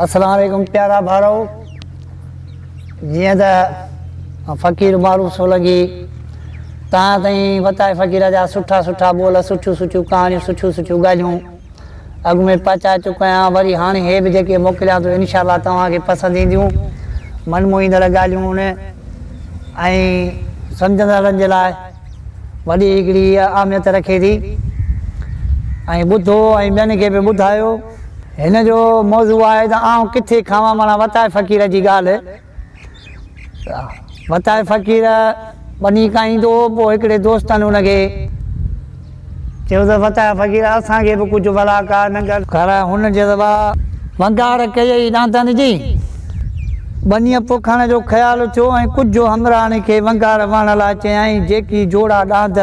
اسلام عليڪم پيارا ڀائرو جيئن ته فقير معروف سولنگي تان تائين وتائي فقير جا سٺا سٺا ٻول سٺيون سٺيون ڪهاڻيون سٺيون سٺيون ڳالهيون اڳ ۾ پهچائي چڪو آهيان وري هاڻي هي به جيڪي موڪليان ٿو انشاء الله توهان کي پسند اينديون من موهيندڙ ڳالهيون هن ۽ سمجهندڙن جي لاء وڏي هڪڙي اهميت رکي ٿي ۽ ٻڌو ۽ ٻين کي به ٻڌايو. هن جو موضوع آهي ته آئون ڪٿي کاوان معنيٰ وتائي فقير جي ڳالهه ته وتائي فقير ٻني کائيندو هو پوء هڪڙي دوستن ان کي چيو ته فتح فقير اسان کي به ڪجهه ولا ڪا نه ڪر. کر هن جي روا. ونگار ڪيئي ڏاندن جي. ٻنيء پوکڻ جو خيال ٿيو ۽ ڪجهه همراهن کي ونگار وهڻ لاء چيائين جيڪي جوڙا ڏاند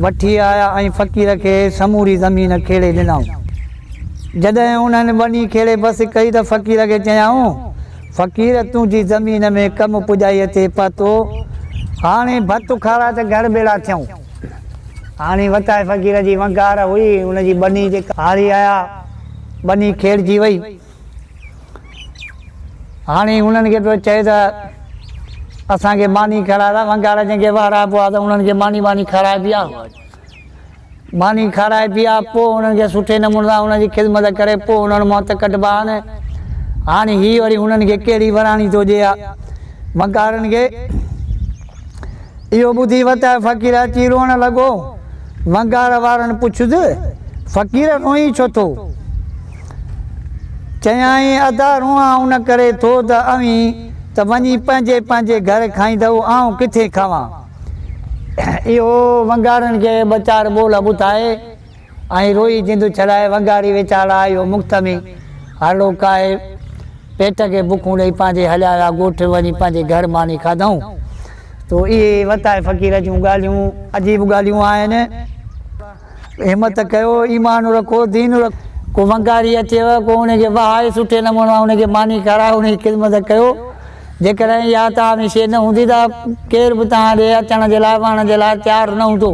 وٺي آيا ۽ فقير کي سموري زمين کيڙي ڏنائون. جڏهن انهن ٻني کيڙي بس ڪئي ته فقير کي چيائون فقير تنهنجي زمين ۾ ڪم پڄائيء تي پهتو هاڻي ڀت اکارا ته گهر ٻيڙا ٿيون. هاڻي وتائي فقير جي ونگار هئي، ان جي ٻني تي ڪهاڙي آيا، ٻني کيڙجي وئي. هاڻي انهن کي پيو چئي ته اسان کي ماني کاراء ته ونگار جن کي وهرائبو آ ته انهن کي ماني واني کارائي پيا. ماني کارائي پيا پوء انهن کي سٺي نموني سان انهن جي خدمت ڪري پوء انهن مان هٿ ڪڍبا آهن. هاڻي هي وري انهن کي ڪهڙي وراڻي ٿو ڏي ها ونگارن کي. اهو ٻڌي وتايو فقير اچي روئڻ لڳو. ونگار وارن پڇيس، فقير روئين ڇو ٿو؟ چيائين، ادا روئان ان ڪري ٿو ته اوهين ته وڃي پنهنجي پنهنجي گهر کائيندؤ، آئون ڪٿي کاوان؟ اهو ونگارن کي ٻه چار ٻول ٻڌائي ۽ روئي جند ڇڏائي وڳاڙي ويچارا اهو مختمي هرڙو ڪاهي پيٽ کي بکون ڏئي پنهنجي هليا ويا ڳوٺ وڃي پنهنجي گهر ماني کاڌائون تو اهي وتائي فقير جون ڳالهيون عجيب ڳالهيون آهن همت ڪيو ايمان رکو دين رکو ڪو وڳاڙي اچيو ڪو ان کي وهائي سٺي نموني ان کي ماني کارائي ان جي خدمت ڪيو جيڪڏهن اها توهان ۾ شيء نه هوندي ته ڪير به توهان ڏي اچڻ جي لاء وهڻ جي لاء تيار نه هوندو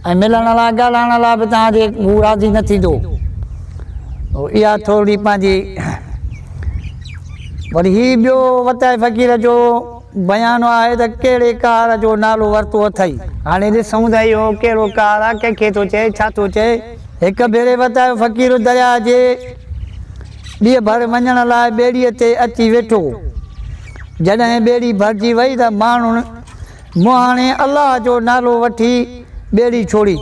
۽ ملڻ لاء ڳالهائڻ لاء به توهان جي هو راضي نه ٿيندو اها ٿورڙي پنهنجي وري هي ٻيو وتائي فقير جو بيان آهي ته ڪهڙي ڪار جو نالو ورتو اٿئي هاڻي ڏسون ته اهو ڪهڙو ڪار آهي ڪنهن کي ٿو چئي ڇا ٿو چئي هڪ ڀيري وتائي فقير درياء جي ٻي ڀر وڃڻ لاء ٻيڙي تي اچي ويٺو جڏهن ٻيڙي ڀرجي وئي ته ماڻهن مون هاڻي الله جو نالو وٺي ٻيڙي ڇوڙي.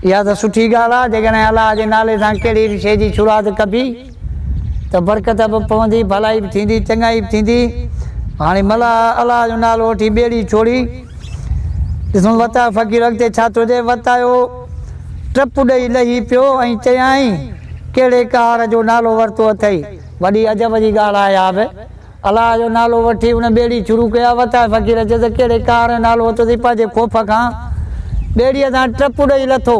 اها ته سٺي ڳالهه آهي، جيڪڏهن الله جي نالي سان ڪهڙي به شيء جي شروعات ڪبي ته برڪت به پوندي، ڀلائي به ٿيندي، چڱائي به ٿيندي. هاڻي ملاح الله جو نالو وٺي ٻيڙي ڇوڙي. ڏسون وتايو فقير اڳتي ڇا ٿو چئي. وتايو ٽپ ڏئي لهي پيو ۽ چيائين، ڪهڙي ڪهاڙ جو نالو ورتو اٿئي. وڏي عجب جي ڳالهه آهي اها به. الله جو نالو وٺي ان ٻيڙي شروع ڪئي، وتائي فقير چيو ته ڪهڙي قهر ۽ نالو ورتو اٿئي، پنهنجي خوف کان ٻيڙيء تان ٽپ ڏئي لٿو.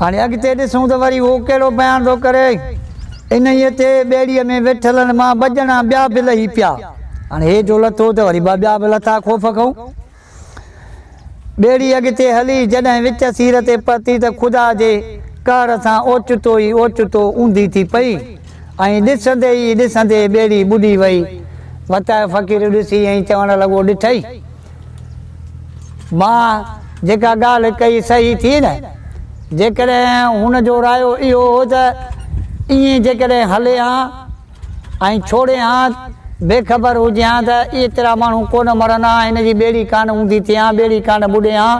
هاڻي اڳتي ڏسون ته وري هو ڪهڙو بيان ٿو ڪري. انهيء تي ٻيڙيء ۾ ويٺلن مان ٻه ڄڻا ٻيا به لهي پيا. هاڻي هيٺ هو لٿو ته وري ٻه ٻيا به لٿا خوف کئون. ٻيڙي اڳتي هلي جڏهن وچ سير تي پهتي ته خدا جي قهر سان اوچتو ئي اوچتو اونڌي ٿي پئي ۽ ڏسندي ئي ڏسندي ٻيڙي ٻڏي وئي. وتاء فقير ڏسي ۽ چوڻ لڳو ڏٺئي ماء جيڪا ڳالهه ڪئي صحيح ٿي نه؟ جيڪڏهن هن جو رايو اهو هو ته ائين جيڪڏهن هلي ها ۽ ڇوڙي هان بي خبر هجي هان ته ايترا ماڻهو ڪونه مرن هان هن جي ٻيڙي ڪانه اوندي ٿئي هان ٻيڙي ڪانه ٻڏي هان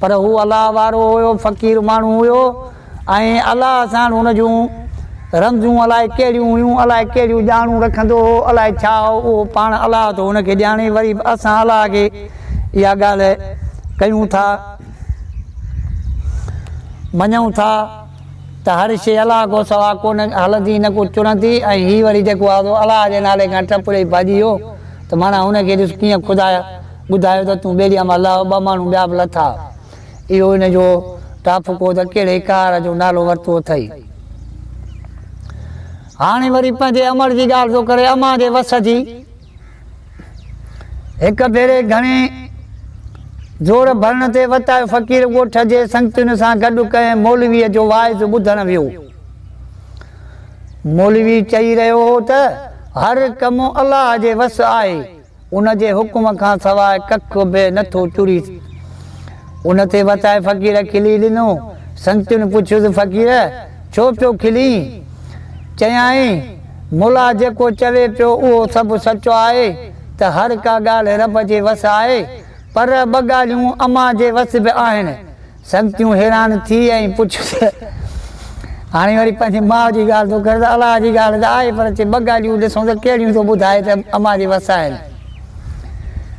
پر هو الله وارو هيو فقير ماڻهو هيو ۽ الله ساڻ هن جون رمزون الاء ڪهڙيون هيون الاء ڪهڙيون ڄاڻون رکندو هو الاء ڇا هو اهو پاڻ الله ٿو هن کي ڄاڻي وري به اسان الله کي اها ڳالهه ڪيون ٿا مڃون ٿا. ته هر شيء الله کان سوا ڪونه هلندي نه ڪو چڙهندي ۽ هي وري جيڪو آهو الله جي نالي کان ٽپ ڏئي ڀڄي ويو ته معنيٰ هن کي ڏس ڪيئن خدايا ٻڌايو ته تون ٻيڙيء مان لهه ٻه ماڻهو ٻيا به لٿا اهو ان جو ڊاڦڪو ته ڪهڙي قهر جو نالو ورتو اٿئي هاڻي وري پنهنجي امڙ جي ڳالهه ٿو ڪري امان جي وس جي هڪ ڀيري گهڻي زور ڀرڻ تي وتايو فقير ڳوٺ جي سنگتين سان گڏ ڪنهن مولويء جو واعظ ٻڌڻ ويو. مولوي چئي رهيو هو ته هر ڪم الله جي وس آهي، ان جي حڪم کان سواء ڪک به نه ٿو چري. ان تي وتايي فقير کلي ڏنو. سنگتين پڇيس فقير! ڇو پيو کلين؟ چيائين، مولا جيڪو چوي پيو اهو سڀ سچو آهي ته هر ڪا ڳالهه رب جي وس آهي، پر ٻه ڳالهيون امان جي وس به آهن. سنگتيون حيران ٿي ۽ پڇيون ته هاڻي وري پنهنجي ماء جي ڳالهه ٿو ڪرين ته الله جي ڳالهه ته آهي پر چي ٻه ڳالهيون ڏسون ته ڪهڙيون ٿو ٻڌائي ته امان جي وس آهن.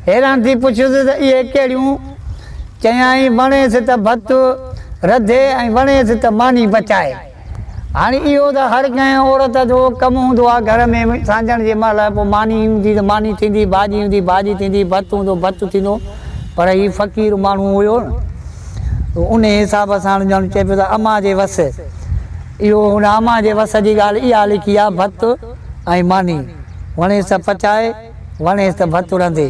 حيران ٿي پڇيس ته اهي ڪهڙيون؟ چيائين، وڻيس ته ڀت رڌي ۽ وڻيس ته ماني پچائي. هاڻي اهو ته هر ڪنهن عورت جو ڪم هوندو آهي گهر ۾ سانجهڻ جي مهل پوء ماني هوندي ته ماني ٿيندي، ڀاڄي هوندي ڀاڄي ٿيندي، ڀت هوندو ڀت ٿيندو، پر هي فقير ماڻهو هيو نه تو انهي حساب سان ڄڻ چئي پيو ته امان جي وس اهو هن امان جي وس جي ڳالهه اها لکي آهي ڀت ۽ ماني وڻيس ته پچائي وڻيس ته ڀت رنڌي.